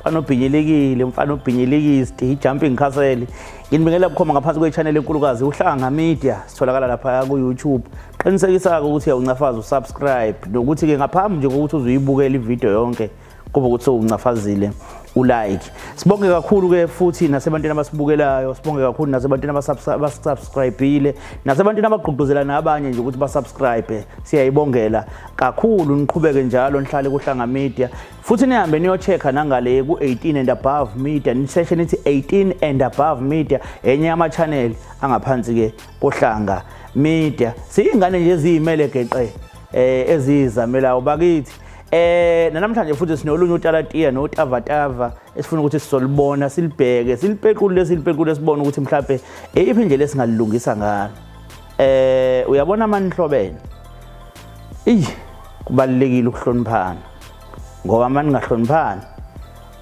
mfana obhinyelikile mfana obhinyelikile sidi jumping castle nginibingela bukhoma ngaphansi kwe-channel enkulukazi uhlanga media sitholakala laphaya ku-youtube qinisekisa-ke ukuthi uyawuncafaza usubscribe nokuthi-ke ngaphambi nje kokuthi uze uyibukele ividiyo yonke kuba ukuthi sewuncafazile ulike sibonge kakhulu-ke futhi nasebantwini abasibukelayo sibonge kakhulu nasebantwini abasubscribile nasebantwini abagqugquzela nabanye nje ukuthi basubscribe siyayibongela kakhulu niqhubeke njalo nihlale kuhlanga media futhi nihambe niyochecka nangale ku-18 and above media niseshe nithi 18 and above media enye yama-channel angaphansi-ke kohlanga media siyingane nje eziyimele geqe um eh, eziyizamelayo bakithi Eh namhlanje futhi sinolunye utalatiya notavatava esifuna ukuthi sisolibona silibheke silipequlule silipequlule sibone ukuthi mhlawumbe eyiphi indlela esingalilungisa ngalo eh uyabona amanhlobene eyi kubalekile ukuhloniphana ngoba uma ningahloniphani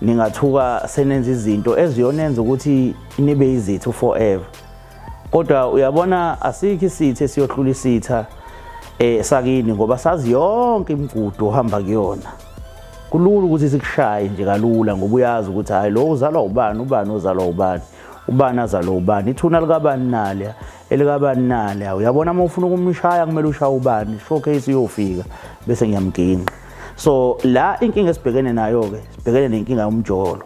ningathuka senenza izinto eziyonenza ukuthi nibe izithu forever kodwa uyabona asikho isitha esiyohlula isitha eh sakini ngoba sazi yonke imigudu ohamba kuyona kulula ukuthi sikushaye nje kalula ngoba uyazi ukuthi hayi lo uzalwa ubani ubani uzalwa ubani ubani azalwa ubani ithuna likabani nale elikabani nale awu yabona uma ufuna ukumshaya kumele ushaye ubani showcase iyofika bese ngiyamginqa so la inkinga esibhekene nayo-ke sibhekene nenkinga yomjolo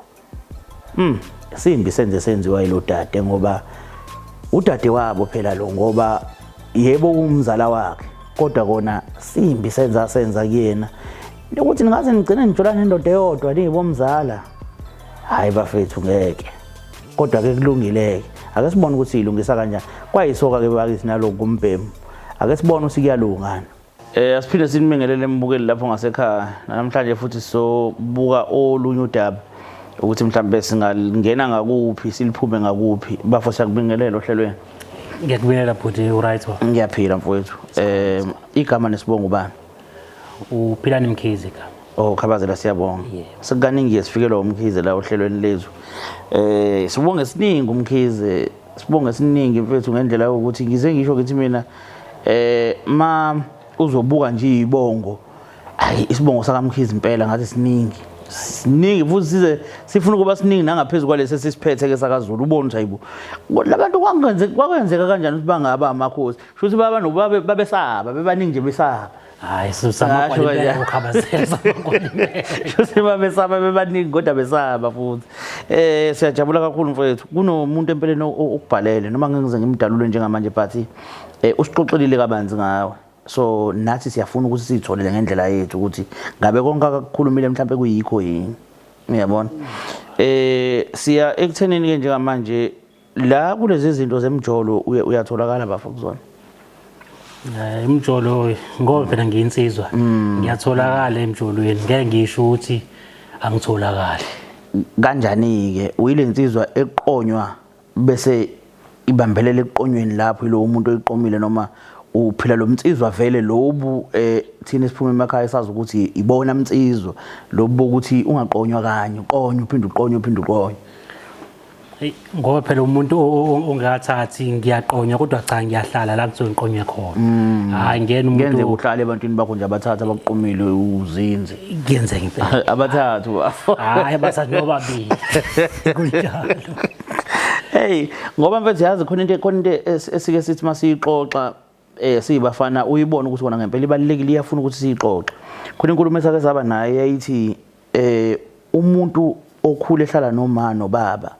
um simbi senze senziwa yilo dade ngoba udade wabo phela lo ngoba yebo umzala wakhe kodwa kona simbi senza senza kuyena ukuthi ningaze nigcine nijolane indoda eyodwa niyibomzala hhayi bafethu ngeke kodwa ke kulungileke ake sibone ukuthi siyilungisa kanjani kwayisoka ke bakisi naloku kumbhemu ake sibone ukuthi kuyalungana Eh asiphinde sinibingelele embukeli lapho ngasekhaya namhlanje futhi sobuka olunye udaba ukuthi mhlawumbe singalingena ngakuphi siliphume ngakuphi bafo siyakubingelela ohlelweni ngiyakubingelela bhuti uright ngiyaphila mfowethu eh igama nesibongo bani uphilani mkhize ka Oh Khabazela siyabonga. Yeah. Sekukaningi sifikelwa umkhize la ohlelweni lezwe. Eh sibonge siningi umkhize, sibonge siningi mfethu ngendlela yokuthi ngize ngisho ukuthi mina eh ma uzobuka nje ibongo. Ayi isibongo sakamkhize impela ngathi siningi. Siningi futhi size sifuna ukuba siningi nangaphezulu kwalesi sisiphethe ke sakaZulu ubona nje ayibo. Labantu kwangenzeka kwakenzeka kanjani ukuthi bangaba amakhosi. shuthi baba nobaba babesaba bebaningi nje besaba hayi shuthi babesaba bebaningi kodwa besaba futhi um siyajabula kakhulu mfowethu kunomuntu empeleni okubhalele noma ngengize ngimdalule njengamanje but um usixoxelile kabanzi ngawe so nathi siyafuna ukuthi siyitholele ngendlela yethu ukuthi ngabe konke akakukhulumile mhlawumbe kuyikho yini uyabona um siya ekuthenini-ke njengamanje la kulezi zinto zemjolo uyatholakala bafo kuzona eh, imjolo ngoba phela ngiyinsizwa mm. ngiyatholakala emjolweni ngeke ngisho ukuthi angitholakali kanjani ke uyilensizwa eqonywa bese ibambelela eqonyweni lapho yilo umuntu oyiqomile noma uphila lo mnsizwa vele lobu eh thina siphuma emakhaya sazi ukuthi ibona mnsizwa lobu ukuthi ungaqonywa kanye uqonywa uphinde uqonywa uphinde uqonywa ngoba phela umuntu ongakathathi ngiyaqonywa kodwa cha ngiyahlala la ngisuke ngiqonywe khona mm. hayi ngena umuntu ngenze uhlale ebantwini bakho nje abathatha bakuqomile uzinze ngenze ngempela abathathu hayi abathathu nobabili kunjalo hey ngoba mfethu yazi khona into khona into esike sithi masiyixoxa eh siyibafana uyibona ukuthi kona ngempela ibalekile iyafuna ukuthi siyixoxe khona inkulumo esake saba naye yayithi eh umuntu okhule ehlala noma nobaba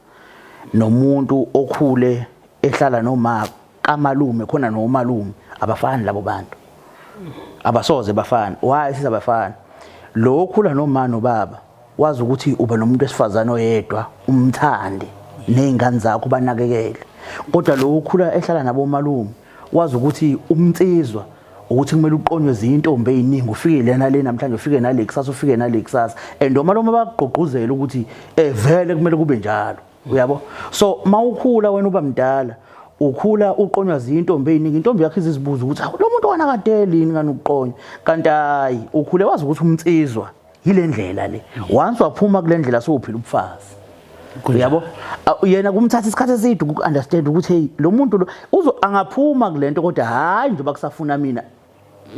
nomuntu okhule ehlala noma kamalume khona nomalume abafani labo bantu abasoze bafana why sizabafana lo okhula noma nobaba wazi ukuthi uba nomuntu wesifazane oyedwa umthande nezingane zakho banakekele kodwa lo ukhula ehlala nabo malume wazi ukuthi umnsizwa ukuthi kumele uqonywe zintombi eziningi ufike lena le namhlanje ufike nale kusasa ufike nale kusasa and uma loma bakugqugquzela ukuthi eh vele kumele kube njalo uyabo so mawukhula wena uba mdala ukhula uqonywa zintombi eziningi intombi yakhe izizibuza ukuthi lo muntu wanakadeli yini ngani ukuqonywa kanti hayi ukhule wazi ukuthi umnsizwa yile ndlela le once waphuma kule ndlela sowuphila ubufazi uyabo yena kumthatha isikhathi eside uku-understand ukuthi hey lo muntu lo uzo angaphuma kule nto kodwa hhayi njengoba kusafuna mina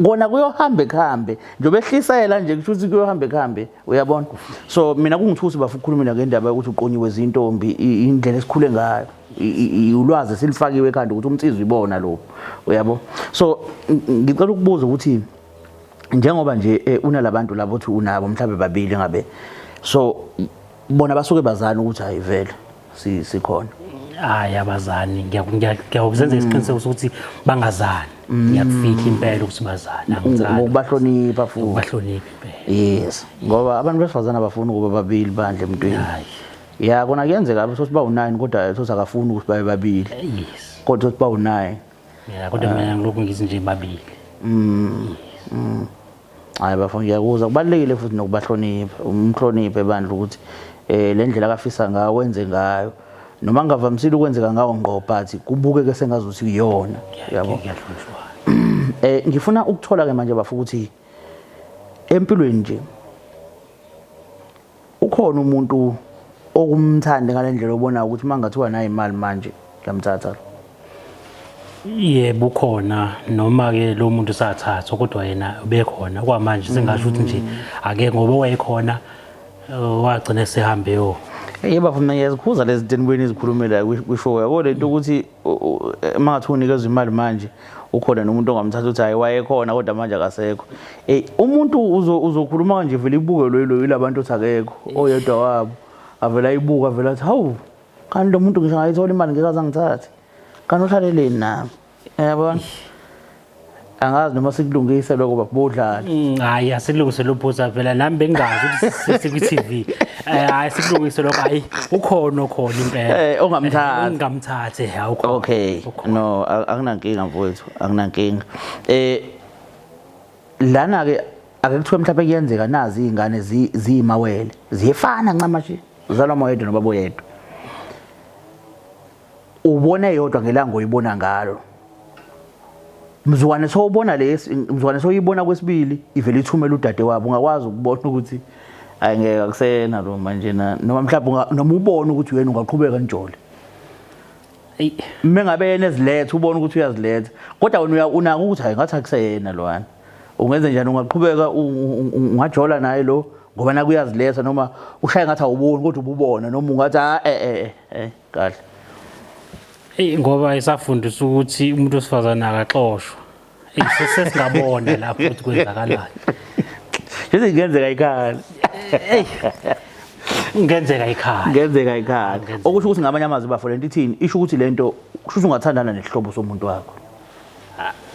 kona kuyohamba ekuhambe njengoba ehlisela nje kusho ukuthi kuyohamba ekuhambe uyabona so mina kungithusi bafa ukukhulumela ngendaba yokuthi uqonyiwe zintombi indlela esikhule ngayo ulwazi silifakiwe ekhanda ukuthi umnsizwa ibona lo uyabo so ngicela ukubuza ukuthi njengoba nje eh, unalabantu labo uthi unabo mhlawumbe babili ngabe so bona basuke bazana ukuthi hayi vele si- sikhona hayi abazani ngiya- ngiya- ngiyakuzenza isiqiniseko sokuthi bangazani ngiyakufihla impela ukuthi bazani angizani ngokubahlonipha futhi ubahloniphi impela yes ngoba abantu besifazane abafuni ukuba babili bandle emntwini hayi ya kona kuyenzeka sothi bawu-nine kodwa sothi akafuni ukuthi babe babili yes kodwa sothi bawu-nine ya kodwa mina ngilokhu ngithi nje babili mm, mm. hayi bafo ngiyakuza kubalulekile futhi nokubahlonipha umhloniphe bandla ukuthi um le ndlela akafisa ngayo wenze ngayo noma ngingavamisile ukwenzeka ngawo ngqo but kubukeke sengazi ukuthi kuyona yabo um ngifuna ukuthola-ke manje bafo ukuthi empilweni nje ukhona umuntu okumthandi ngale ndlela obona ukuthi uma ngathiwa nayo imali manje ngiyamthatha lo yebo ukhona noma-ke lo muntu sathathwa kodwa yena ubekhona kwamanje singasho ukuthi nje ake ngoba wayekhona uh, wagcina sehambe yo yebo bafuna ngiyazikhuza lezi zinto enibuyeni izikhulumela kwishow yabo le nto ukuthi mangathi unikeza imali manje ukhona nomuntu ongamthatha uthi hayi wayekhona kodwa manje akasekho ey umuntu uzokhuluma kanje vele ibukelwe yilo yilabantu othi akekho oyedwa wabo avela ibuka avela athi hawu kanti lo muntu ngisho ngayithola imali ngeke azangithathe kanti uhlaleleni nami yabona angazi noma sikulungise lokho babodlala mm, hayi asilungise lophuza vela nami bengazi ukuthi sikwi TV eh, hayi sikulungise lokho hayi ukhona okhona impela eh ongamthathi eh, ongamthathi hayi ukhona okay no akunankinga mfowethu akunankinga eh lana ke ake kuthiwe mhlawumbe kuyenzeka nazi izingane ziyimawele ziyefana ncamashi zalwa moyedwa nobabo yedwa ubona eyodwa ngelanga oyibona ngalo mzukwane sowubona lesi mzukwane soyibona kwesibili ivele ithumela udade wabo ungakwazi ukubona ukuthi hayi ngeke akusena lo manje na noma mhlawumbe noma ubone ukuthi uyena ungaqhubeka njole uma ngabe yena eziletha ubona ukuthi uyaziletha kodwa wena unaka ukuthi hayi ngathi akuseyena lwana ungenze njani ungaqhubeka ungajola naye lo ngoba nakuyaziletha noma ushaye ngathi awuboni kodwa ububona noma ungathi a ah, e eh, e eh, e eh, kahle eyi ngoba isafundisa ukuthi umuntu wesifazane akaxoshwa eyi sesingabona lapho ukuthi kwenzakalani Yithi ngenzeka ikhaya. Ngenzeka ikhaya. Ngenzeka ikhaya. Okusho ukuthi ngamanye amazwi bafo lento ithini? Isho ukuthi lento kusho ukuthi ungathandana nesihlobo somuntu wakho.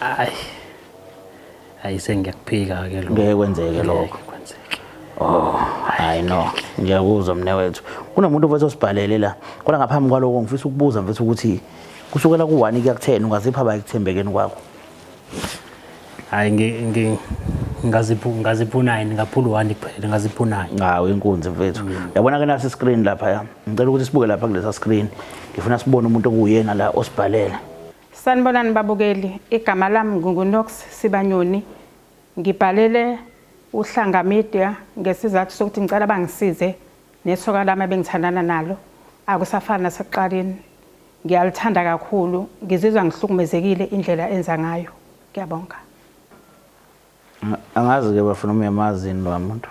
Hayi. hayi sengiyakuphika ke lokho ngeke kwenzeke lokho Oh, hayi no. Ngiyakuzwa mne wethu. Kunomuntu mfethu osibhalele la. Kodwa ngaphambi kwaloko ngifisa ukubuza mfethu ukuthi kusukela ku-1 kuya ku-10 ungazipha ba ekuthembekeni kwakho. Hayi ngi ngaziphu ngaziphu 9 ngaphula u-1 kuphela ngaziphu 9. Ngawo inkunzi mfethu. Mm. Yabona ke nasi screen lapha ya. Ngicela ukuthi sibuke lapha kulesa screen. Ngifuna sibone umuntu okuyena la osibhalela. Sanibonani babukeli, igama lami nginguNox Sibanyoni. Ngibhalele uHlanga Media ngesizathu sokuthi ngicela bangisize nesoka lami ebengithandana nalo. Akusafani nasekuqaleni. Ngiyalithanda kakhulu, ngizizwa ngihlukumezekile indlela enza ngayo. Ngiyabonga. Angazi-ke bafuna uma uyamazi yini loya muntu.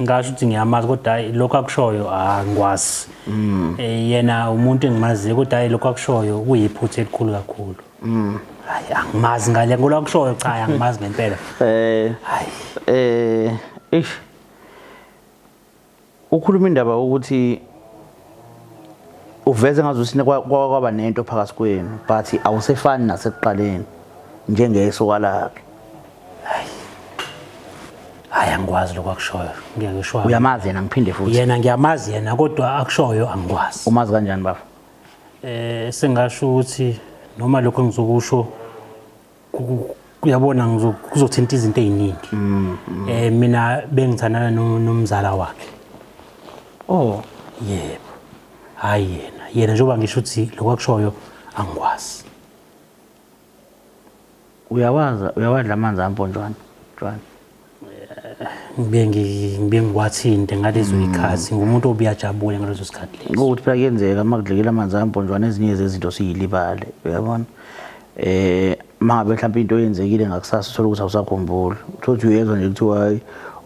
Ngasho ukuthi ngiyamazi kodwa hayi lokho akushoyo angikwazi. Mm. Eh, yena umuntu engimaziyo kodwa hayi lokho akushoyo kuyiphutha elikhulu kakhulu. Mm. Hayi angimazi ngale ngolo akushoyo cha angimazi ngempela. Eh. Hayi. Eh, ish. Ukhuluma indaba ukuthi uveze ngazuthi kwaba nento phakathi kwenu but awusefani nasekuqaleni njengesoka lakhe. Hayi. Hayi angikwazi lokho akushoyo. Ngeke ngisho. Uyamazi yena ngiphinde futhi. Yena ngiyamazi yena kodwa akushoyo angikwazi. Umazi kanjani bafo? Eh sengasho ukuthi noma lokho engizokusho uyabona kuzothinta izinto eziningi mm, mm. eh mina bengithandana nomzala wakhe oh yebo hayi yena yena njengoba ngisho ukuthi lokwakushoyo angikwazi uyawaza uyawadla amanzi amponjwana jwana ngibe ngibe ngiwathinte ngalezo mm. ikhathi ngumuntu obuyajabule ngalezo sikhathi lezi ukuthi phela kuyenzeka uma kudlekela amanzi amponjwana ezinye zezinto siyilibale uyabona eh mangabe mhlawumbe into eyenzekile ngakusasa uthola ukuthi awusakhumbuli uthola ukuthi uyezwa nje kuthiwa hayi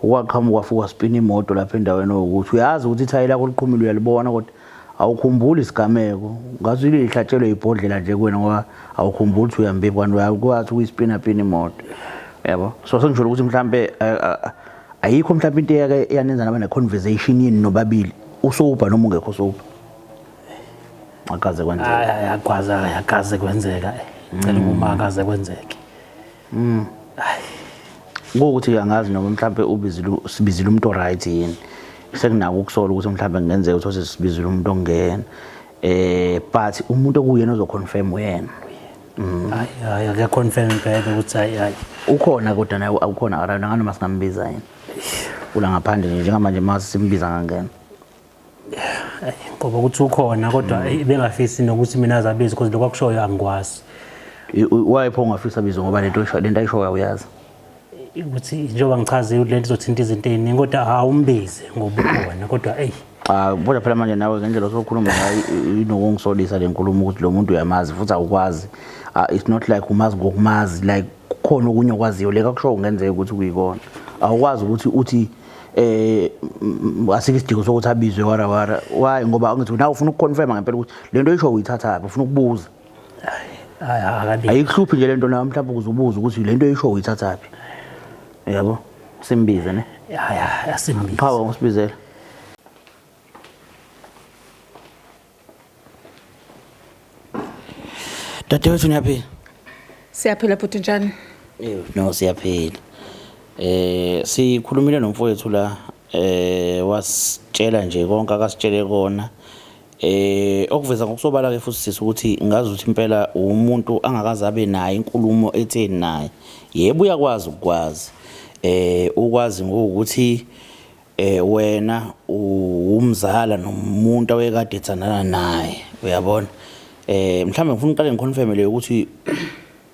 ukwaqhamuka fuka spina imoto lapha endaweni okuthi uyazi ukuthi ithayi lakho liqhumile uyalibona kodwa Awukhumbuli isigameko, ngathi ile ihlatshelwe ibhodlela nje kuwena ngoba awukhumbuli ukuthi uyambiphi kanti uyakwazi ukuyispina pina imoto. Yabo. So sengisholo ukuthi mhlambe eh, eh, ayikho mhlambe into eyake yanenza naba ne conversation yini nobabili usobha noma ungekho sobha. Akaze kwenzeka. Hayi akaze akaze kwenzeka. Ngicela ukuma akaze kwenzeke. Mm. Ukuthi angazi noma mhlambe ubizile sibizile umuntu oright yini. Sekunako ukusola ukuthi mhlambe kungenzeka ukuthi osesibizile umuntu ongena. Eh but umuntu okuyena ozoconfirm uyena. Mm. Hayi hayi akaconfirm impela ukuthi hayi hayi. Ukhona kodwa naye awukhona around anganoma singambiza yini. Ula ngaphandle njengamanje mase simbiza ngangena. ngoba ukuthi ukhona kodwa mm. eh, bengafisi nokuthi mina azabizi because lokho akushoyo angikwazi why pho ungafisa bizo ngoba lento lento ayishoyo uyazi ukuthi njengoba ngichazile ukuthi lento izothinta izinto eziningi kodwa awumbize ngoba ukhona kodwa eyi Ah bona phela manje nawe ngendlela osokhuluma ngayo inokungisolisa lenkulumo ukuthi lo muntu uyamazi futhi awukwazi ah, it's not like umazi ngokumazi like kukhona okunye okwaziyo leka kusho ungenzeka ukuthi kuyikona awukwazi ukuthi uthi eh asikho isidingo sokuthi abizwe wara wara why ngoba angithi nawe ufuna ukuconfirma ngempela ukuthi lento oyisho uyithathaphi ufuna ukubuza ayikuhluphi nje lento nawe mhlawumbe ukuze ubuze ukuthi lento oyisho uyithathaphi yabo simbize ne hayi asimbize qhawe usibizela Dadewethu niyaphila? Siyaphila bhuti njani? Eh no siyaphila. Eh sikhulumile nomfowethu la eh wasitshela nje konke akasitshele kona. Eh okuveza ngokusobala ke futhi sisi ukuthi ngazi ukuthi impela umuntu angakazabe naye inkulumo etheni naye. Yebo uyakwazi ukwazi. Eh ukwazi ngokuthi eh wena uwumzala nomuntu awekade ethandana naye uyabona eh mhlawumbe ngifuna uqale ngiconfirm le ukuthi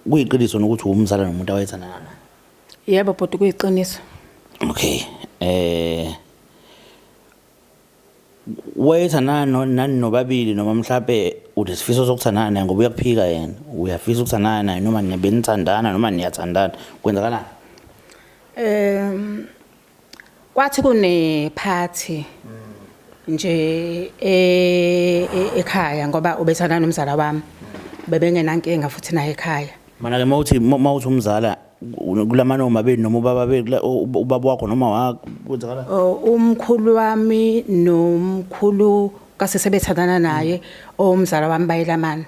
kuyiqiniso nokuthi uwumzala nomuntu awethandana naye yebo bhuti kuyiqiniso okay eh wayethandana nani nobabili noma mhlawumbe unesifiso sokuthandana naye ngoba uyakuphika yena uyafisa ukuthandana naye noma nibenithandana noma niyathandana kwenzakalani um Kwathi kune party nje e, e, ekhaya ngoba ubethanda nomzala wami. Bebengenankinga futhi naye ekhaya. Mana ke mawuthi mawuthi umzala kulamana omabili noma ubaba beli ubaba wakho noma wakho kwenzakala oh, umkhulu wami nomkhulu kasesebethandana naye omzala wami bayelamana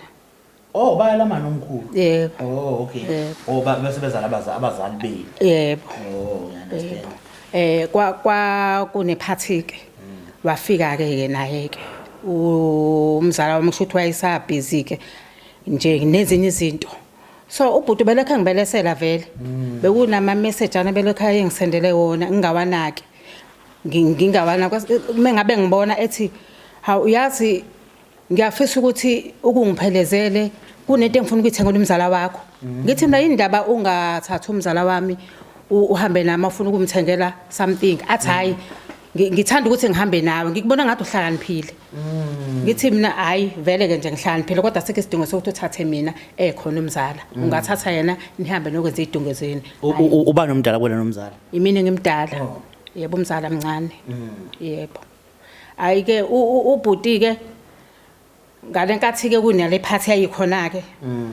Oh baya lama nomkhulu. Yebo. Oh okay. Yebo. Oh ba- bese bezala abaza- abazali benu. Yebo. Oh ngiyaunderstand. Eh kwa kwa kunephathi ke. Wafika ke ke naye ke. Umzala wami kusho ukuthi wayesa busy ke nje nezinye izinto. So ubhuti belekhe ngibelesela vele. Bekunama message ana belekhe ayengisendele wona ngingawanaki. Ngi- Ngingawana mengabe ngibona ethi hawu uyazi ngiyafisa ukuthi ukungiphelezele kunento engifuna ukuyithengela umzala wakho mhm. ngithi mina indaba ungathathi umzala wami uhambe nami afuna ukumthengela something athi mhm. hayi ngithanda ukuthi ngihambe nawe ngikubona ngathi uhlakaniphile mhm. ngithi mina hayi vele ke nje ngihlakaniphile kodwa sekho isidingo sokuthi uthathe mina ekhona eh, umzala ungathatha yena nihambe nokwenza idunge zenu uba nomdala kwena nomzala imini ngimdala oh. yebo umzala mncane yebo Hayi ke ubhuti ke ngalenkathi ke kunale phathi yayikhona ke. Mm.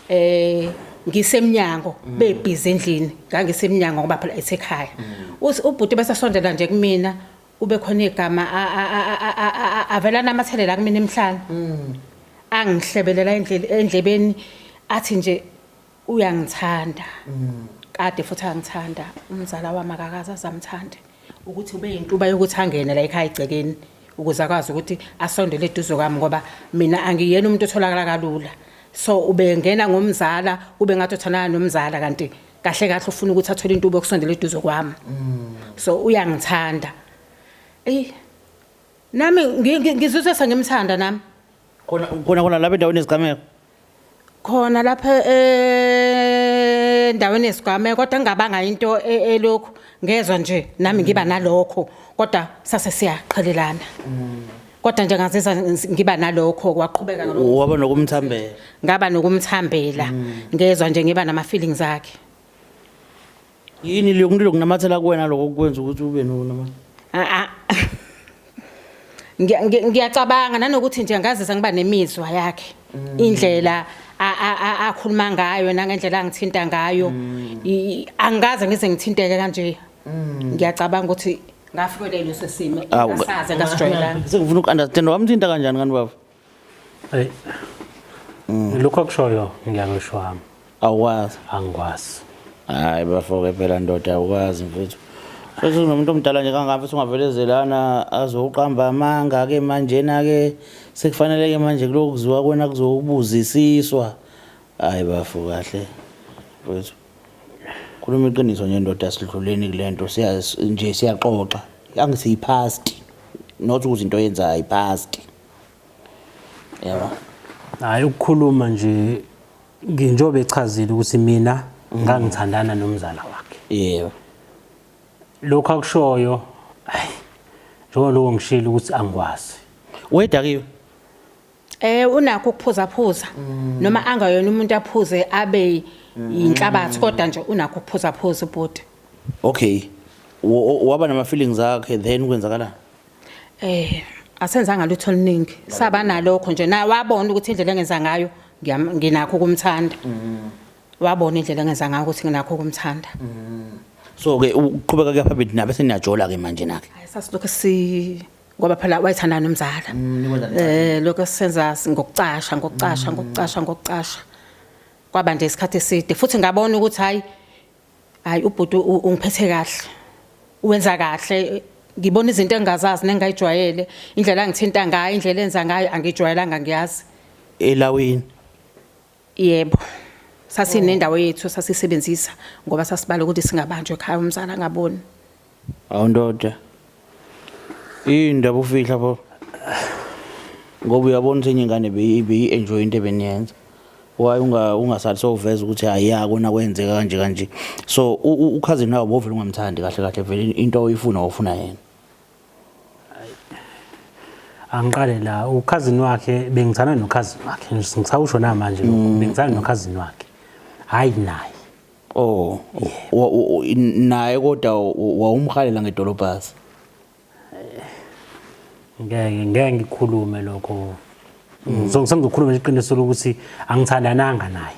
Eh ngisemnyango mm. bebhizi endlini ngangisemnyango ngoba phela esekhaya. Mm. Ubhuti bese sondela nje kumina ube khona igama avela namathelela kumina emhlanje. Angihlebelela endlebeni athi nje uyangithanda kade futhi angithanda umzala wami akakaze azamthande ukuthi ube yintuba yokuthi angene la ekhaya egcekeni ukuze akwazi ukuthi asondele eduze kwami ngoba mina angiyena umuntu otholakala kalula so ubengena ngomzala ube ngathi uthandana nomzala kanti kahle kahle ufuna ukuthi athole intubo yokusondela eduze kwami so uyangithanda eyi nami ngi- ngi- ngizizwe sengimthanda nami khona khona khona lapha endaweni yezigameko khona lapha endaweni yesigameko kodwa ngingabanga into e- elokhu ngezwa nje nami ngiba nalokho kodwa sase siyaqhelelana kodwa nje ngazizwa ngis- ngiba nalokho kwaqhubeka ngalokho. waba nokumthambela ngaba nokumthambela ngezwa nje ngiba nama-feelings akhe yini leyo kuntu lokunamathela kuwena loko kwenza ukuthi ube nonama a ngiya- ngiya- ngiyacabanga nanokuthi nje ngazisa ngiba nemizwa yakhe indlela a- a- a- akhuluma ngayo nangendlela angithinta ngayo I- angikaze ngize ngithinteke kanje ngiyacabanga ukuthi ngafikelwa ileso simo Awu, engasaze ngasijwayelanga sengifuna uku-understand wamthinta kanjani kanti baba Hey. Mm. Lokho kushoyo ngiyakusho wami. Awukwazi. Angikwazi. Hayi bafoke phela ndoda awukwazi mfethu. Futhi unomuntu omdala nje kangaka futhi ungavelezelana azoqamba amanga ke manje na ke sekufanele ke manje kulokuziwa kwena kuzokubuzisiswa. Hayi bafo kahle. Mfethu. Khuluma iqiniso nje ndoda sidluleni kulento siya nje siyaxoxa. Angisiyiphasti. Not ukuthi into yenzayo iphasti. yabo hayi ukukhuluma nje njengoba echazile ukuthi mina ngangithandana nomzala wakhe yebo lokho akushoyo hayi njengoba lokho ngishilo ukuthi angikwazi wedakiwe eh unakho ukuphuza phuza mm. noma angayona umuntu aphuze abe yinhlabathi mm. kodwa nje unakho ukuphuza phuza ubhuti okay waba nama feelings akhe then kwenzakalani Eh asenzanga lutho oluningi saba nalokho nje naye wabona ukuthi indlela engenza ngayo ngiyam- nginakho ukumthanda Mm. wabona indlela engenza ngayo ukuthi nginakho ukumthanda so ke uqhubeka ke phambili nabe seniyajola ke manje nake Hhayi, sasilokhu si ngoba phela wayethanda nomzala eh lokho senza ngokucasha ngokucasha ngokucasha ngokucasha kwaba nje isikhathi eside futhi ngabona ukuthi hayi Hayi ubhuti ungiphethe kahle. Wenza kahle ngibona izinto engingazazi nengayijwayele indlela angithinta ngayo indlela enza ngayo angijwayelanga ngiyazi. Elawini. Yebo. Sasinendawo yethu sasisebenzisa ngoba sasibala ukuthi singabanjwa ekhaya umzala ngaboni. Hawu ndoda. Yini ndaba ufihla pho? Ngoba uyabona ukuthi enye ingane beyi beyi enjoy into ebeniyenza. Why unga ungasathi sowuveza ukuthi hayi ya kona kwenzeka kanje kanje. So u- u- ukhazini nawo bovela ungamthandi kahle kahle vele into oyifuna ofuna yena. angiqale la ukhazini wakhe bengithanda nokhazini wakhe ngisawusho namanje lokho bengithanda nokhazini wakhe hhayi naye Oh, wa- u- u- naye kodwa wawumhalela ngedolobhasi. ngeke ngeke ngikhulume lokho Ngizong- sengizokhuluma iqiniso lokuthi angithandananga naye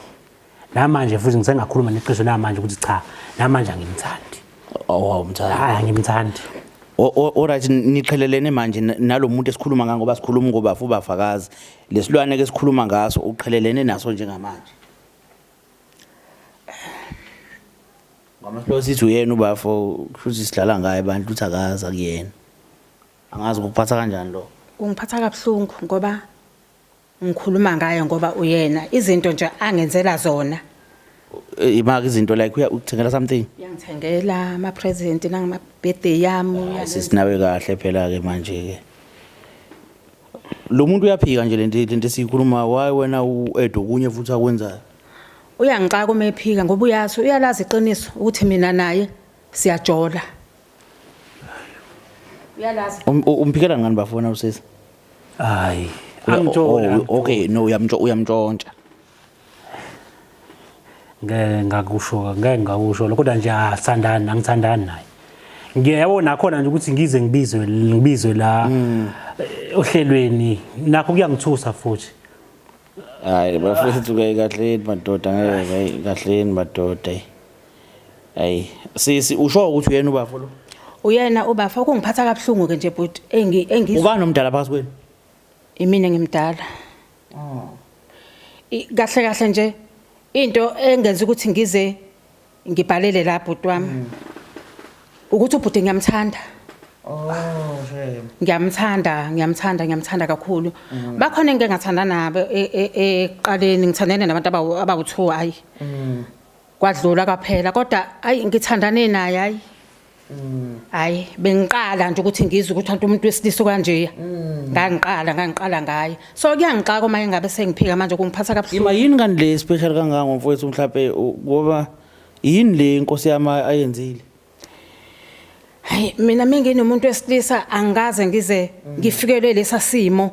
namanje futhi ngisengakhuluma neqiniso namanje ukuthi cha namanje angimthandi Awawumthanda. hayi angimthandi O- o- Alright niqhelelene manje na- nalomuntu esikhuluma ngako basikhuluma ngobafu bafakazi. Lesilwane ke sikhuluma ngaso uqhelelene naso njengamanje. Ngama slow sithi uyena ubafo kushuthi sidlala ngaye abantu ukuthi akazi akuyena. Angazi ukuphatha kanjani lo. Kungiphatha kabuhlungu ngoba ngikhuluma ngaye ngoba uyena izinto nje angenzela zona. Imaka izinto like uya ukuthengela something. Uyangithengela ama present nangama birthday yami. Sisinawe kahle phela ke manje ke. Lo muntu uyaphika nje lento lento esiyikhuluma why wena u-Edo kunye futhi akwenzayo. Uyangixaka uma ephika ngoba uyazi uyalazi iqiniso ukuthi mina naye siyajola. Uyalazi. Um- u- Umphikela ngani bafona usisi? Hayi. Angijoli. Oh, Okay no uyamntsho uyamntshontsha. ngeke ngakusho ngeke ngakusho lokho kodwa nje asithandani ah, angithandani naye ngiyabo nakhona nje ukuthi ngize ngibizwe ngibizwe la hmm. eh, ohlelweni nakho kuyangithusa futhi hayi bafethu ke kahleni madoda ngeke kahleni madoda hayi sisi usho ukuthi uyena ubafo lo uyena ubafo kungiphatha kabuhlungu ke nje bhuti engi engi ubani omdala phakathi kwenu Imina ngimdala. Oh. Kahle kahle nje into engenza ukuthi ngize ngibhalele la bhuti wami. Mm. Ukuthi ubhuti ngiyamthanda. Oh, shame. Ngiyamthanda, ngiyamthanda, ngiyamthanda kakhulu. Mm. Bakhona engike ngathanda nabo e, e, eqaleni ngithandene nabantu abawu abawu2 hayi. Mm. Kwadlula kwaphela kodwa hayi ngithandane naye hayi. hayi bengiqala nje ukuthi ngizwe ukuthi anti umuntu wesilisa kanjeya ngangiqala ngangiqala ngaye so kuyangixaka uma engabe sengiphika manje kungiphatha kabuhlungu Ima yini kanti le special kangaka ngomfowethu mhlawumbe u- ngoba yini le inkosi yami ayenzile? hayi mina menginomuntu wesilisa angikaze ngize ngifikelwe lesa simo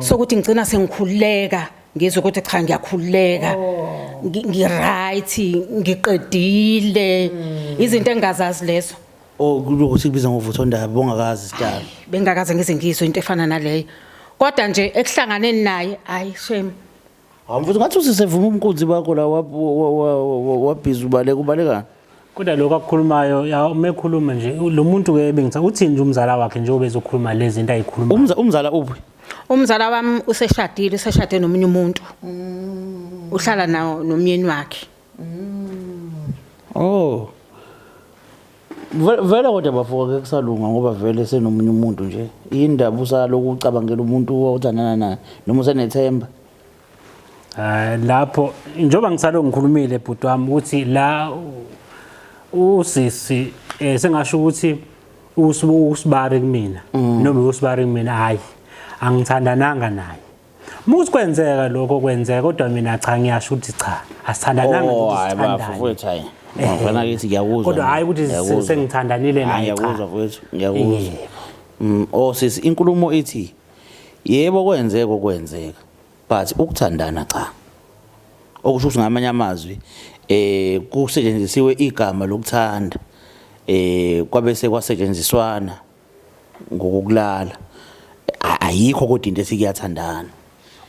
sokuthi ngigcina sengikhululeka ngizwe ukuthi cha ngiyakhululeka oh. ngiright ngiqedile hmm. izinto engingazazi lezo oh kulokuthi kubiza ngovutho ndaba bongakazi sidala bengakaze ngize ngizwe into efana naleyo kodwa nje ekuhlanganeni naye hayi shame Hamfuthi ngathi usisevuma umkunzi bakho la wabhiza ubaleka ubalekana. Kodwa lokho akukhulumayo ya uma ekhuluma nje lo muntu ke bengithi uthini nje umzala wakhe njengoba ezokhuluma lezi zinto ayikhuluma. Umza umzala uphi? Umzala wami useshadile, useshade nomunye umuntu. Uhlala nawo nomyeni wakhe. Oh. Ve- Vele kodwa bafo ke kusalunga ngoba vele senomunye umuntu nje. Indaba usaloku ucabangela umuntu othandana naye noma usenethemba. Eh, lapho njengoba ngisalo ngikhulumile bhuti wami ukuthi la usisi eh, sengasho ukuthi usibari kumina mm. noma usibari kumina hayi angithandananga naye muthi kwenzeka lokho kwenzeka kodwa mina cha ngiyasho ukuthi cha asithandananga oh, ukuthi sithandane ngifana eh, kithi ngiyakuzwa kodwa hayi ukuthi sengithandanile naye ngiyakuzwa mfowethu ngiyakuzwa mm, osisi oh, inkulumo ithi Yebo kwenzeka okwenzeka but ukuthandana cha. Okusho ukuthi ngamanye amazwi eh kusetshenzisiwe igama lokuthanda eh kwabese kwasetshenziswana ngokulala ayikho kodwa into ethi kuyathandana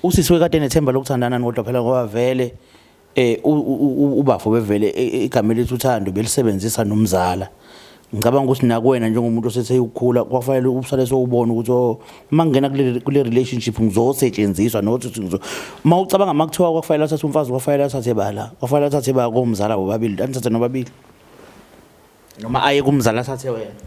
usisi wekade nethemba lokuthandana kodwa phela ngoba vele Eh ubafo bevele e, e, igama elithi uthando belisebenzisa nomzala. Ngicabanga ukuthi nakuwena njengomuntu osethe ukukhula kwafanele ubusale sowubona ukuthi oh, uma ngingena kule kule relationship ngizosetshenziswa not ukuthi ngizo uma ucabanga makuthiwa kwafanele athathe umfazi kwafanele athathe bala kwafanele athathe ba komzala bobabili anithathe nobabili noma aye kumzala athathe wena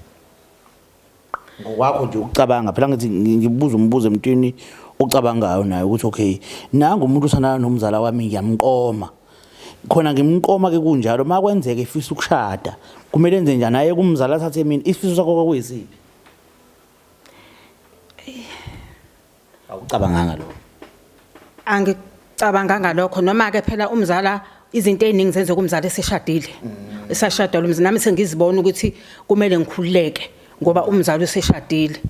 ngokwakho nje ukucabanga phela ngithi ngibuza umbuzo emntwini ocabangayo naye ukuthi okay nangu umuntu usana nomzala wami ngiyamqoma khona ngimqoma ke kunjalo makwenzeke ifisa ukushada kumele enze njani aye kumzala athathe mina isifiso sakho kwakuyisiphi Awucabanganga lokho. Angicabanganga lokho noma ke phela umzala izinto eziningi zenzeka umzala eseshadile. Mm. Esashadala umzala nami sengizibona ukuthi kumele ngikhululeke ngoba umzala useshadile.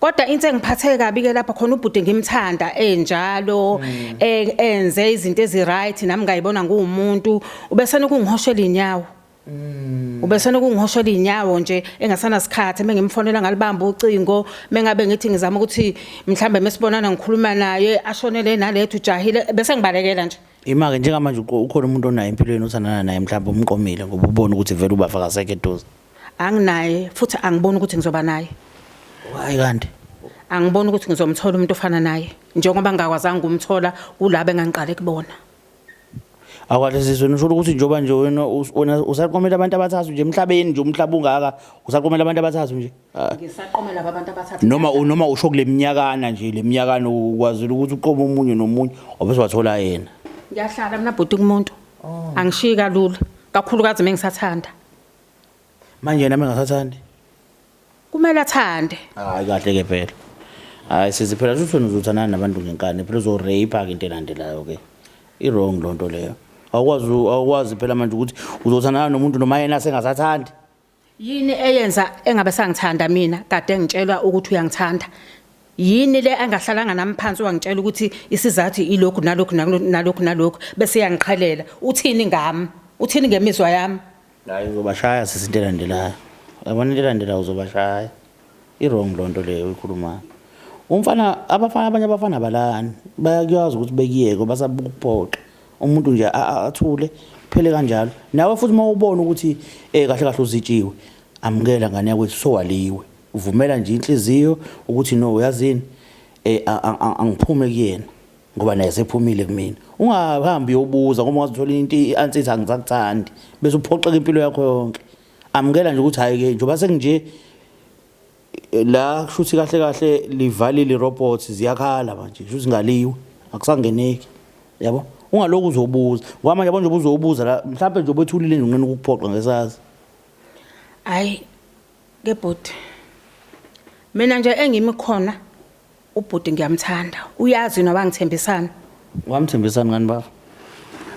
Kodwa into engiphathe kabi ke lapha khona ubhuti ngimthanda enjalo mm. e, enze izinto ezi right nami ngayibona ngumuntu ubesana ukungihoshela inyawo. Mm. Ubesena ukungihoshola inyawo nje engasana sikhathi mengimfonela ngalibamba ucingo mengabe ngithi ngizama ukuthi mhlambe mesibonana ngikhuluma naye ashonele nalethu jahile bese ngibalekela nje Imake njengamanje ukhona umuntu onayo empilweni othandana naye mhlawumbe umqomile ngoba ubona ukuthi vele ubafakazeke eduze. Anginaye futhi angiboni ukuthi ngizoba naye. Why kanti? Angiboni ukuthi ngizomthola umuntu ofana naye njengoba ngingakwazanga ukumthola kulabo engangiqale kubona. Akwade sizwe nisho ukuthi njoba nje wena wena usaqomela abantu abathathu nje emhlabeni nje umhlaba ungaka usaqomela abantu abathathu nje. Ah. Ngisaqomela abantu abathathu. Noma noma usho kuleminyakana nje leminyakana ukwazile ukuthi uqome umunye nomunye obese wathola yena. Ngiyahlala mina bhuti kumuntu. Oh. Angishiyi kalula kakhulukazi mengisathanda. Manje nami ngasathandi. kumele athande hayi kahle ke phela hayi sizi phela shuthi wena uzothandana nabantu ngenkani phela uzorape-ke into elandelayo ke i-wrong loo nto leyo awukwazi awukwazi phela manje ukuthi uzothandana nomuntu noma yena sengasathandi yini eyenza engabe sangithanda mina kade ngitshelwa ukuthi uyangithanda yini le angahlalanga nami phansi wangitshela ukuthi isizathu ilokhu nalokhu nalokhu nalokhu bese yangiqhalela uthini ngami uthini ngemizwa yami Hayi uzobashaya sisi into elandelayo. Yabona into elandelayo uzobashaya. I-wrong loo nto leyo uyikhulumayo. Umfana abafana abanye abafana balani bayakwazi ukuthi bekuyeke basabuka ukuphoxa. Umuntu nje athule kuphele kanjalo. Nawe futhi uma ubona ukuthi eh kahle kahle uzitshiwe amukela ngane yakwethu sowaliwe. Uvumela nje inhliziyo ukuthi no uyazini eh angiphume kuyena. ngoba naye sephumile kumina ungahambi yobuza ngoba ungazithola into i-ansithi angisakuthandi bese uphoxeka impilo yakho yonke amukela nje ukuthi hayi-ke njengoba sekunje la kushuthi kahle kahle livalile irobots ziyakhala manje kusho zingaliwe akusangeneki yabo ungaloku uzobuza ngoba manje yabo nje ubuzobuza la mhlawumbe nje obethulile nje unqena ukuphoqa ngesazi hayi ke bhuti mina nje engimi khona Ubhuti ngiyamthanda. Uyazi yini wabangithembisani? Wamthembisani ngani baba?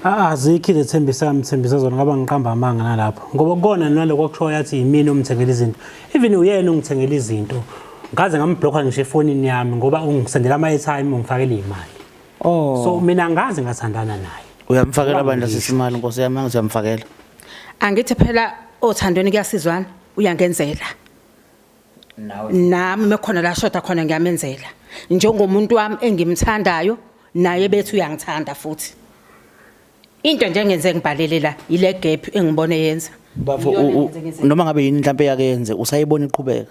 Ah, azikho izethembi sami thembisa zona ngaba ngiqamba amanga nalapho ngoba kukona naloko akushoyo yathi yimina omthengela izinto even uyena ongithengela izinto ngaze ngambhlokha ngisho efonini yami ngoba ungisendela ama-airtime ungifakela iy'mali oh. so mina angazi ngathandana naye uyamfakela bandla sisimali nkosi yami angithi uyamfakela angithi phela othandweni kuyasizwana uyangenzela nami mekhona la shoda khona ngiyamenzela njengomuntu wami engimthandayo naye bethi uyangithanda futhi into nje engenze ngibhalele la ile gap engibone yenza bafo Iyona u- u- engenze ngize- noma ngabe yini mhlawumbe yake yenze usayibona iqhubeka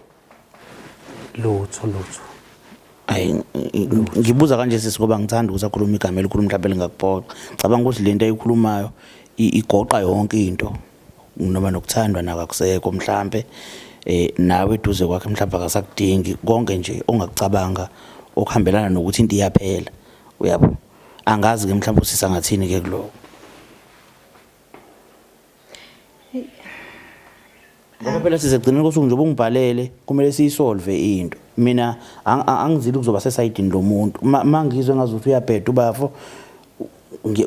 lutho lutho hayi ng- ng- ngibuza kanje sisi ngoba ngithanda ukuthi akhulume igama elikhulu mhlawumbe lingakuphoxa cabanga ukuthi le nto ayikhulumayo i- igoqa yonke into noma nokuthandwa nako akusekho mhlampe eh nawe eduze kwakhe mhlawumbe akasakudingi konke nje ongakucabanga okuhambelana nokuthi into iyaphela uyabo angazi ke mhlawumbe usisa ngathini ke kuloko ngoba phela sizegcina kosuku nje ubungibhalele kumele siyisolve into mina angizile ukuzoba sesayidini lomuntu mangizwe ngazuthi uyabheda ubafo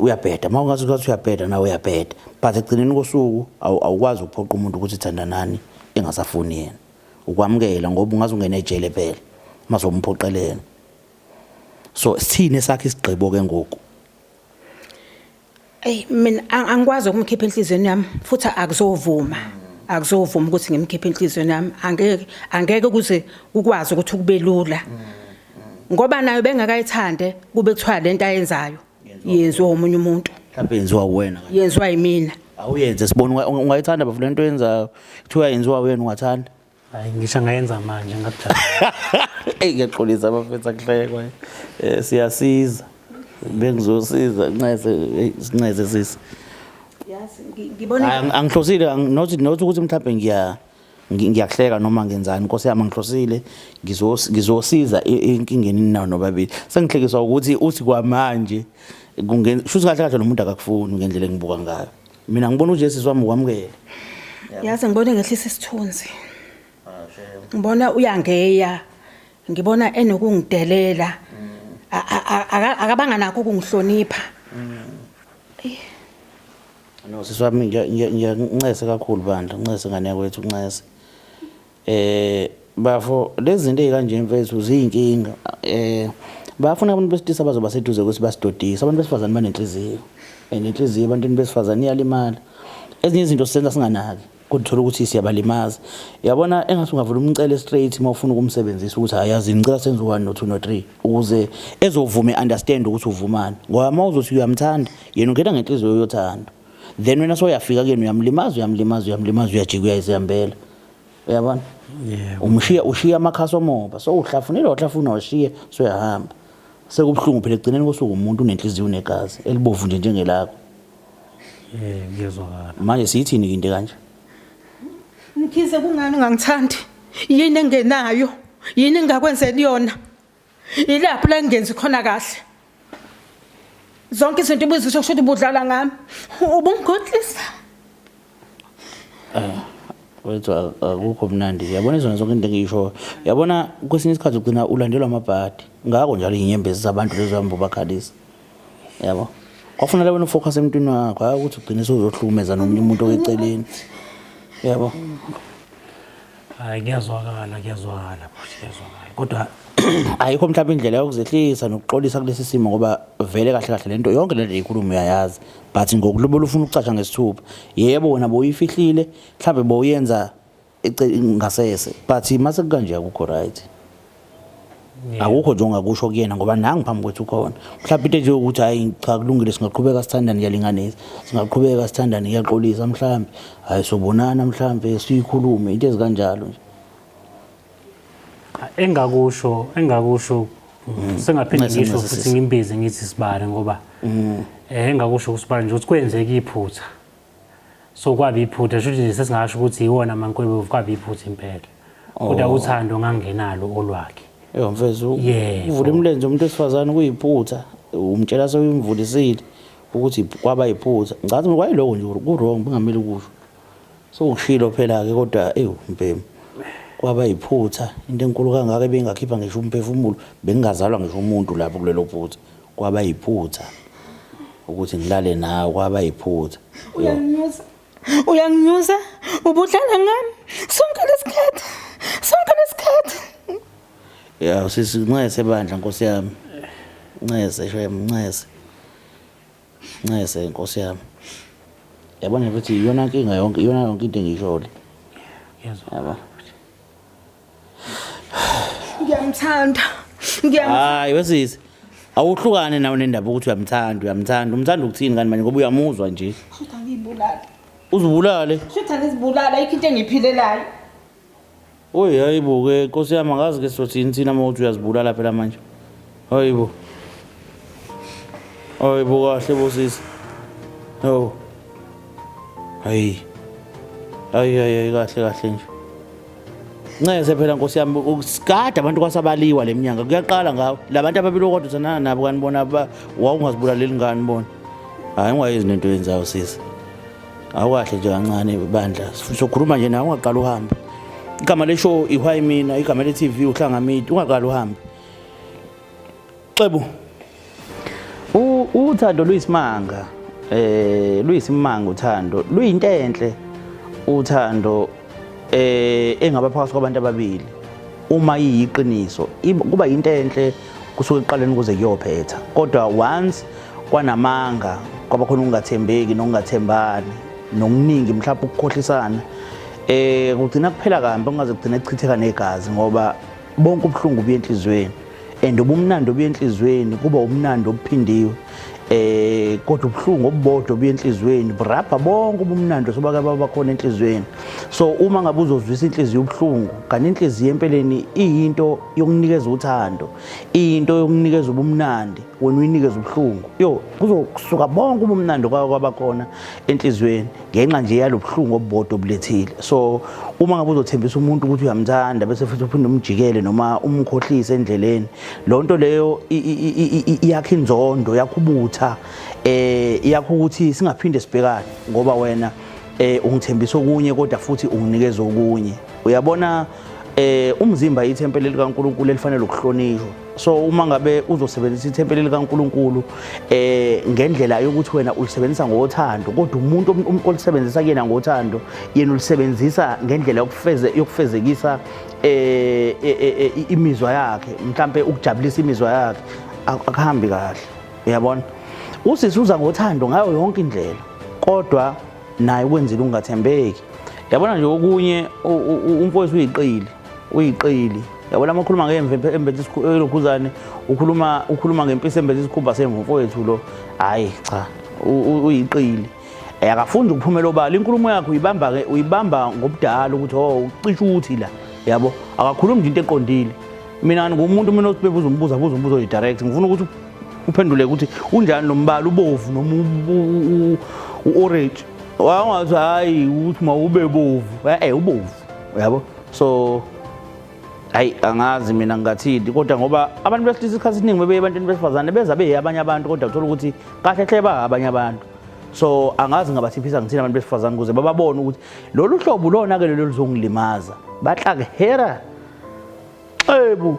uyabheda uma ungazi ukuthi uyabheda nawe uyabheda but ekugcineni kosuku awukwazi ukuphoqa umuntu ukuthi thandanani engasafuni yena ukwamukela ngoba ungaze ungene ejele phela uma somphoqelela so sithini esakhe isigqibo ke ngoku Ey mina angikwazi ukumkhipha enhlizweni yami futhi akuzovuma. Akuzovuma ukuthi ngimkhiphe enhlizweni yami. Angeke angeke kuze ukwazi ukuthi kubelula. ngoba nayo bengakayithande kube kuthiwa lento ayenzayo yenziwa umunye umuntu mhlawumbe yenziwa uwena yenziwa yimina awuyenze sibona ungayithanda bafu lento yenzayo kuthiwa yenziwa wena ungathanda hayi ngisho ngayenza manje ngakudala eyi ngiyaxolisa abafethu akuhlekwa um eh, siyasiza bengizosiza ncese sincese sisi angihlosile nothi ukuthi mhlawumbe ngiya ngiyakuhleka noma ngenzani nkosi yami ngihlosile ngizosiza enkingeni ninawo nobabili sengihlekiswa ukuthi uthi kwamanje shuthi kahle kahle nomuntu akakufuni ngendlela engibuka ngayo mina ngibona ujesus wami ukwamukele yazi ngibona engehlisa isithunzi ah, ngibona uyangeya ngibona enokungidelela mm. akabanga nakho ukungihlonipha mm. No sisi wami ngiyancese kakhulu bandla uncese ngane yakwethu uncese eh bafo lezi zinto ezikanje mfethu ziyinkinga eh bafuna abantu besilisa bazoba seduze ukuthi basidodise abantu besifazane banenhliziyo and inhliziyo ebantwini besifazane iyalimala ezinye izinto sisenza singanaki kodwa uthola ukuthi siyabalimaza yabona engathi ungavula umcele straight uma ufuna ukumsebenzisa ukuthi ayazi ngicela senze one no two no three ukuze ezovume understand ukuthi uvumani ngoba uma uzothi uyamthanda yena ungena ngenhliziyo yothando then wena soyafika kuyena uyamlimaza uyamlimaza uyamlimaza uyajika uyayizihambela uyabona yeah, umshiya ushiya amakhasi omoba so uhlafunile wahlafuna washiye soyahamba sekubuhlungu phela ekugcineni kosuku umuntu unenhliziyo unegazi elibovu nje njengelakho Eh ngiyezwakala. Manje siyithini ke into kanje? Mkhize kungani ungangithandi? Yini engenayo? Yini engakwenzeli yona? Yilapho la ngenzi khona kahle. Zonke izinto ubuzisho kusho ukuthi ubudlala ngami. Ubungigodlisa. Eh wethu akukho mnandi uyabona izona zonke into engiyishoyo uyabona kwesinye isikhathi ugcina ulandelwa amabhadi ngako njalo inyembezi zabantu lezo hamba ubakhalisa yabo kwakufanele wena ufocus emntwini wakho hayi ukuthi ugcine sewuzohlukumeza nomunye umuntu okeceleni yabo hayi kuyazwakala kuyazwakala futhi kuyazwakala kodwa ayikho mhlawumbe indlela yokuzehlisa nokuxolisa kulesi simo ngoba vele kahle kahle lento yonke lento eyikhuluma uyayazi but ngokulobola ufuna ukucatsha ngesithupha yebo wena boyifihlile mhlawumbe boyenza ngasese but mase kukanje akukho right akukho nje ongakusho kuyena ngoba nangu phambi kwethu khona mhlawumbe into nje ukuthi hayi cha kulungile singaqhubeka sithandane kuyalinganisa singaqhubeka sithandane kuyaxolisa mhlawumbe hayi sobonana mhlawumbe siyikhulume into ezikanjalo nje engakusho engakusho mm. sengaphinde ngisho futhi ngimbize ngithi sibale ngoba mm. eh engakusho usibale nje ukuthi kwenzeka iphutha so kwaba iphutha shuthi nje sesingasho ukuthi yiwona mankwebo kwaba iphutha impela kodwa oh. uthando ngangenalo olwakhe yebo mfethu uvula imilenze umuntu wesifazane kuyiphutha umtshela sewuyimvulisile ukuthi kwaba yiphutha ngicathi kwayiloko nje ku-wrong bengamele ukusho sewukushilo phela-ke kodwa ewu mbhemu kwaba yiphutha into enkulu kangaka ebingakhipha ngisho umphefumulo bengingazalwa ngisho umuntu lapho kulelo phutha Kwaba yiphutha ukuthi ngilale nawe kwaba yiphutha. Uyanginyusa. Uyanginyusa. Ubudlala ngami. Sonke lesikhathi. Sonke lesikhathi. Ya usisi ncese bandla nkosi yami. Ncese shem ncese. Ncese nkosi yami. Yabona ukuthi iyona nkinga yonke iyona yonke into engiyishole. Yezwa. Yabona. Ngiyamthanda. Ngiyamthanda. Hayi wesisi. Awuhlukane nawe nendaba ukuthi uyamthanda, uyamthanda. Umthanda ukuthini kanti manje ngoba uyamuzwa nje. Shutha ngibulala. Uzibulale. Shutha ngizibulala ikho into engiphilelayo. Oy hayibo ke Nkosi yami angazi ke sothini thina uma uthi uyazibulala phela manje. Hayi bo. Hayi bo kahle bo sisi. Yo. Hayi. Hayi hayi kahle kahle nje. Ncese phela Nkosi yami ukusigada abantu kwasabaliwa leminyanga kuyaqala ngawo labantu ababiloko kodwa sanana nabo kanibona wawungazibulaleli ngani bona hayi ungayenzi nento yenzayo sisi awukahle nje kancane bandla sokhuluma nje nawe ungaqala uhambe igama leshow ihwayi mina igama le-tv uhlangamidi ungaqala uhambe Xebu. Uthando luyisimanga. Eh luyisimanga uthando. Luyinto enhle uthando eh engaba phakathi kwabantu ababili. Uma iyiqiniso kuba into enhle kusuke eqaleni kuze kuyophetha. Kodwa once kwanamanga kwaba khona ukungathembeki nokungathembani nokuningi mhlawumbe ukukhohlisana eh kugcina kuphela kambi kungaze kugcine kuchitheka negazi ngoba bonke ubuhlungu obuya enhliziyweni and ubumnandi obuya enhliziyweni kuba ubumnandi obuphindiwe eh kodwa ubuhlungu obubodwa obuya enhliziyweni burabha bonke ubumnandi sobake baba khona enhliziyweni so uma ngabe uzozwisa inhliziyo ubuhlungu kanti inhliziyo empeleni iyinto yokunikeza uthando iyinto yokunikeza ubumnandi wena uyinikeza ubuhlungu yo kuzokusuka bonke ubumnandi kwabakhona enhliziyweni ngenxa nje yalobuhlungu obubodwa obulethile so uma ngabe uzothembisa umuntu ukuthi uyamthanda bese futhi uphinde umjikele noma umkhohlise endleleni lo nto leyo iyakha inzondo yakho ubutha eh yakho ukuthi singaphinde sibhekane ngoba wena eh ungithembisa okunye kodwa futhi unginikeza okunye uyabona eh umzimba ithempeli likaNkuluNkulu elifanele ukuhlonishwa so uma ngabe uzosebenzisa ithempeli likaNkuluNkulu eh ngendlela yokuthi wena ulisebenzisa ngothando kodwa umuntu um, um, olisebenzisa kuyena ngothando yena ulisebenzisa ngendlela yokufeze yokufezekisa eh, eh, eh, eh imizwa yakhe mhlambe ukujabulisa imizwa yakhe akuhambi kahle uyabona usisi uza ngothando ngayo yonke indlela kodwa naye ukwenzile ungathembeki yabona nje okunye umfowethu uyiqili uyiqili yabona amakhuluma ngemve embethe ilokhuzane ukhuluma ukhuluma ngempisi embethe isikhumba semvu mfowethu lo hhayi cha uyiqili Eh, akafundi ukuphumela obala inkulumo yakhe uyibamba uyibamba ngobudala ukuthi oh ucisha ukuthi la yabo akakhulumi nje into eqondile mina ngumuntu mina obebuza umbuzo abuza umbuzo oyi direct ngifuna ukuthi uphendule ukuthi unjani lo mbala ubovu noma u-orange wangathi hhayi ukuthi mawube bovu e-e ubovu uyabo so hayi angazi mina ngingathini kodwa ngoba abantu besilisa isikhathi esiningi bebeye ebantwini besifazane beza beye abanye abantu kodwa kuthola ukuthi kahle hle ba abanye abantu so angazi ngabathiphisa ngithini abantu besifazane ukuze bababone ukuthi lolu hlobo lona-ke lelo luzongilimaza batlakehera xebu